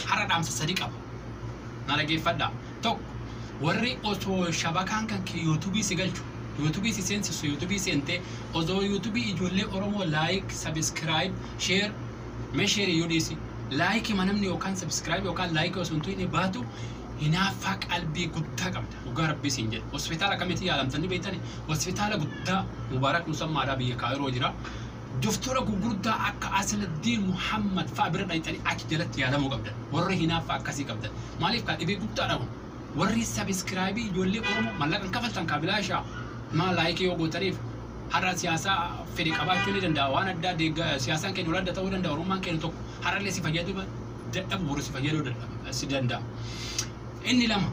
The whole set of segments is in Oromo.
Qara dhaamsa sadi qaba. Na dhageeffadhaa. Tokko, warri osoo shabakaan kan kee yuutubii si galchu, yuutubii si seensisu, yuutubii seentee, osoo yuutubii ijoollee Oromoo laayik, sabiskiraayib, sheer, mee sheer iyyuu dhiisi. Laayikii ma namni yookaan sabiskiraayib yookaan laayikii osoo hin tuqin baatu hinaaffaa qalbii guddaa qabda. Dhugaa rabbii siin jedha. Hospitaala akkamitti yaalamtan ni beektani? Hospitaala guddaa Mubaarak Musammaadhaa biyya Kaayiroo jira. Doftora gugurdaa akka Asaladdiin Muhammad fa'a bira dhayxanii achi jalatti yaalamuu qabdan. Warri hinaaffaa akkasii qabdan. Maaliif kaa dhibee guddaadha kun. Warri sabiskiraayibii ijoollee Oromoo mallaqan kafaltan kaa bilaashaa maa laayikii yoo gootaniif har'a siyaasaa fedhe qabaachuu ni danda'a waan addaa deegga siyaasaan keenya walaadda ta'uu danda'a Oromummaan keenya tokko har'allee si fayyaduu dadhabu boru si fayyaduu dadhaba si danda'a. Inni lama.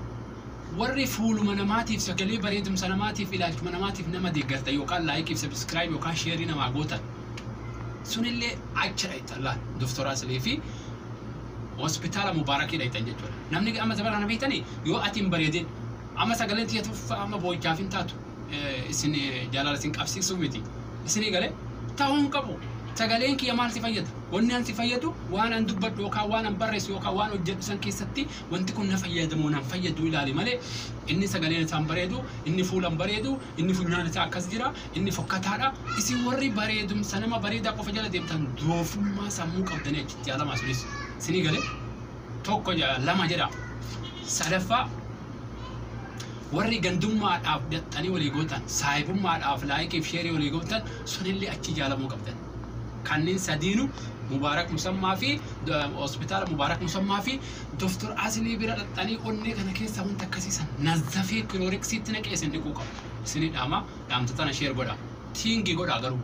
Warri fuuluma namaatiif, sagalee bareedumsa namaatiif, ilaalchuma namaatiif nama deeggartan yookaan like fi subscribe yookaan share namaa gootan sunillee achi dhayxan laal Dr. Aslee fi hospitaala Mubaarakii dhayxan jechuudha. Namni ga- amma zabana kana beektanii yoo ati hin bareedin amma sagaleen tiyya tuffa amma boo'ichaaf hin taatu eh, isin eh, jaalala isin qabsiisuu miti. Isinii galee ta'uu hin qabu. Sagaleen kiyya maal si fayyada? Wanni an si fayyadu waan an dubbadhu yookaan waan an barreessu yookaan waan hojjedhu san keessatti Wanti kun na fayyada moo nan fayyadu ilaali malee inni sagaleen isaa hin bareedu, inni fuula hin bareedu, inni funyaan isaa akkas jira, inni fokkataadha. Isin warri bareedumsa nama bareedaa qofa jala deemtan doofummaa sammuu qabdanii achitti yaalamaa sunis. Sinii galee? Tokko jedha, lama jedha. Sadaffaa warri gandummaadhaaf daxxanii walii gootan, saahibummaadhaaf laayikiif sheerii walii gootan sunillee achi jaalamuu qabdan. Kanneen sadiinu Mubaarak Musammaa fi hospitaala Mubaarak Musammaa fi Doktar Asinii bira dhaxxanii onnee kana keessaa wanta akkasii san nazafee kilooreksiitti naqee isin dhiquu qabdu. Isinii dhaama dhaamta tana sheer godhaa. Tiingii godhaa garuu.